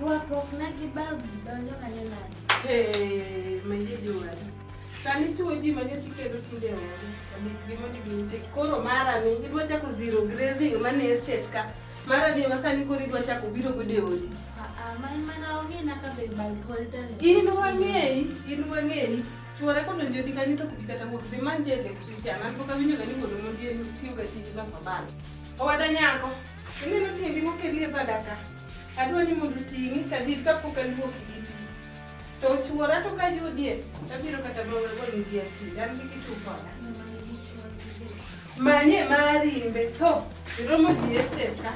Rwakruokna gi bab donjo kanyo nade? Hey, manje jowar. Sani chuo ji manyo tikedo tinde onge. Odich gi mondi gi ute. Koro mara ni idwa chako zero grazing mane estate ka. Mara ni ma sani koro idwa chako biro gode odi. Ah, man mana onge na ka be bal holder. In wang'eyi, in wang'eyi. Chuora kodonjo di kanyo to kubi kata wuok. Dhi manje electrician. An pok awinjo ga ni mondo mondi en tiyo ga tij loso bal. Owada nyako. Ineno tiendi mokelie dhoda ka. Adwa ni mondo ting'i kadhi kapok aluoki gi pi. To chuora to ka yudie, tabiro kata mana goni gi asidi. An gi kitu koda. Manye marimbe to iromo ji estet ka.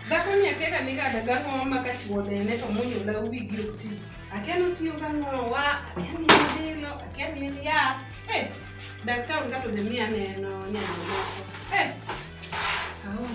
Dhako ni akeka ni kada gang'o ma ka chuode ne to munyo la uwi gi okti. Akia ni otiyo gang'o wa, akia ni en dilo, akia ni en yath. Eh, daktari kato dhi miya neno nyalo moko. Eh, aol.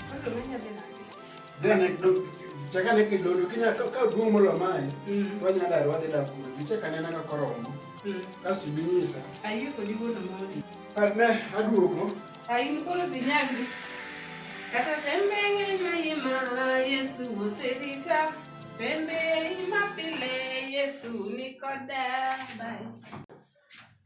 chakane kidodo ka duong' molo mae mm. wanya dar wadhi dak kuro gichek anena ka koromo mm. kasto ibinyisa ne aduogo kata tembe ng'eny ma imala yesu oserita tembe ima pile yesu nikoda bye